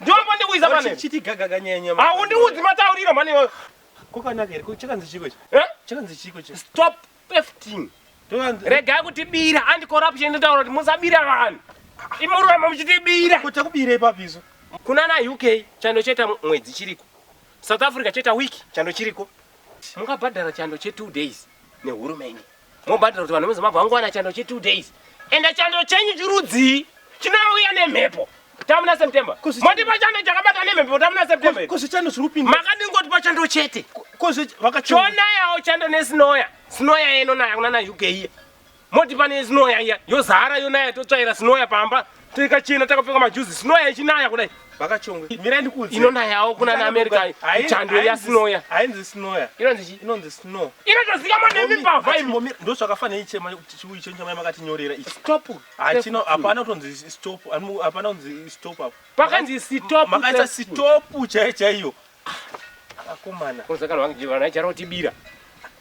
Ndombo ndikuiza pane. Chiti gagaga nyaya nyama. Haundiudzi matauriro mhani iwayo. Ko kanaka here? Ko chakanzi chiko ichi? Eh? Chakanzi chiko ichi? Stop efting. Regai kutibira and corruption inotaura kuti musabira vanhu. Imuramba muchitibira. Ko takubirei papi isu? Kuna na UK chando cheta mwedzi chiriko. South Africa cheta week chando chiriko. Mungabhadhara chando che 2 days nehurumende. mobhadhira kuti vanhu vemuzimba vangowana chando che two days and chando chenyu chirudzii chinouya nemhepo tamuna september mondipa chando chakabata nemhepo tamuna september kozvichando zviri kupinda makadingotipa chando chete chonayawo chando nesinoya sinoya yenonaya kunana uk iya motipa nesinoya iya yozara yonaya totsvaira sinoya pamba Tika china takapfeka majuzi snow yachinaya kudai. Vakachongwe. Mira ndikuudze. Inonayawo kuna na America chando ya snow ya. Ainzi snow ya. Inonzi chi? Inonzi snow. Inotozika mwa nemi pa vibe. Ndo zvakafanira ichi chema chiwi ichi chama makati nyorera ichi. Stop. Achino hapana kutonzi stop. Hapana kunzi stop apo. Pakanzi stop. Makaita stop chaiyo chaiyo. Akomana. Kozakana wangu jivana charo tibira.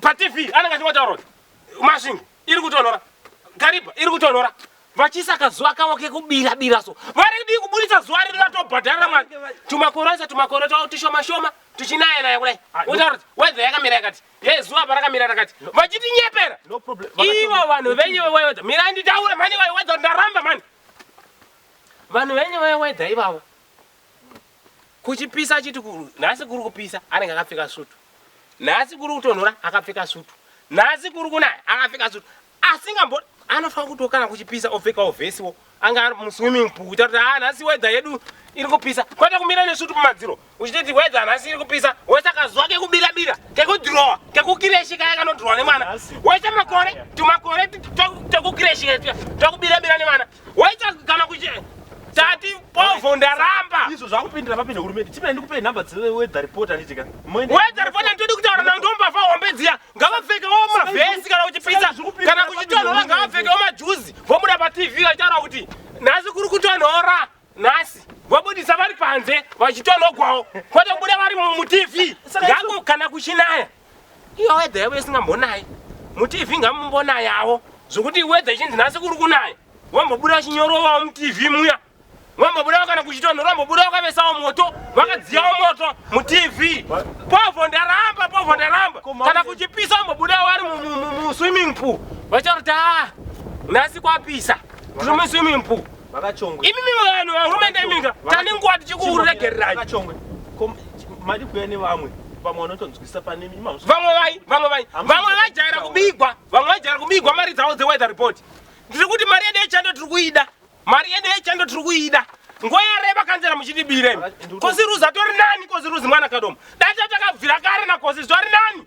patv anenge achingotaura kuti masvingo iri kutonhora gariba iri kutonhora vachiisa kazuva kavo kekubira bira so vari kudii kuburitsa zuva riri vatobhadharira mwana tumakore aisa tumakore twavo tushoma shoma tuchinaya naya kudai wotaura kuti wedha yakamira yakati ye zuva parakamira rakati vachitinyepera No problem. ivo vanhu venyu vewedha mirai nditaure mhani vewedha ndaramba mhani vanhu venyu vewedha ivavo Kuchipisa achiti ku, nhasi kuri kupisa anenge akapfeka sutu. Nhasi kuri kutonhora akapfeka sutu. Nhasi kuri kunaya akapfeka sutu. Asingambo anofanira kuti kana kuchipisa opfekawo vhesi wo. Anga ari mu swimming pool kuita kuti ah nhasi weather yedu iri kupisa. Kwete kumira nesutu kumadziro. Uchiti weather nhasi iri kupisa. Wese akazuwa kekubira bira, kekudhirowa, kekukireshi kaya kanodhirowa nemwana. Wese makore, tumakore tekukireshika, tekubira bira nemwana. Waita kana kuche tati povo ndaramba. Izvo zvakupindira papinda hurumende. Chimene ndikupe number dze weather report anditika. Weather report ndodi kutaura na ndomba fa hombe dziya. Ngavapfeke wo mavhesi kana kuchipisa kana kuchitonhora ngavapfeke wo majuzi. Vomuda pa TV vachitaura kuti nhasi kuri kutonhora. Nhasi vobudisa vari panze vachitonhogwawo. Kwete kubuda vari mu TV. Ngako kana kuchinaya. Iyo wedha yavo isingambonayi mutv ngamumbonayawo zvokuti wedha ichinzi nhasi kuri kunaya wambobuda chinyorovawo mutv muya wambobudawo kana kuchitonhora wambobudawo kavesawo moto vakadziyawo moto mutv povho ndaramba povho ndaramba kana kuchipisa wambobudawo vari muswimming pool vachati ah, nhasi kwapisa tiri muswimming pool Vakachongwe. Imi mivanhu vahurumende imika tane nguva tichikuregererai. Vakachongwe. Mari kuya nevamwe vamwe vanotonzwisisa pane imi vamwe vai vamwe vai vamwe vajaira kubigwa vamwe vajaira kubigwa mari dzavo dzeweather report ndiri kuti mari yedu yechando tiri kuida mari yedu yechando tiri kuida nguva yareba kanzera muchitibiremi kosi ruzi atori nani kosi ruzi mwana kadoma dai tatakabvira kare nakosi zvari nani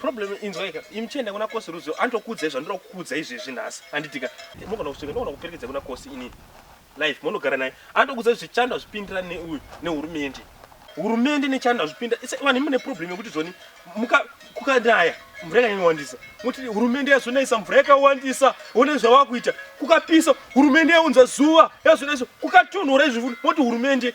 problem inzwai ka imi chienda kuna kosi rudzo andokuudzai zvandoda kukuudza izvezvi nhasi anditika mogona kusvika ndogona kuperekedza kuna kosi ini life monogara naye andokuudzai zvichando hazvipindira neuyu nehurumende hurumende nechando hazvipinda vanhu mune problem yekuti zvoni kukanaya mvura yakanyanyowandisa moti hurumende yazonayisa mvura yakawandisa one zvavakuita kukapisa hurumende yaunza zuva yazonayisa kukatonhora izvi moti hurumende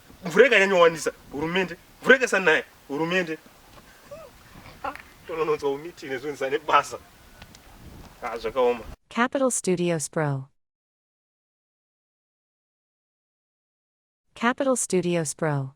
mvura ikanyanyowandisa hurumende mvura ikasanaya hurumende tonononzwa umiti nezvinonzisa nebasa ah, zvakaoma capital studios bro capital studios bro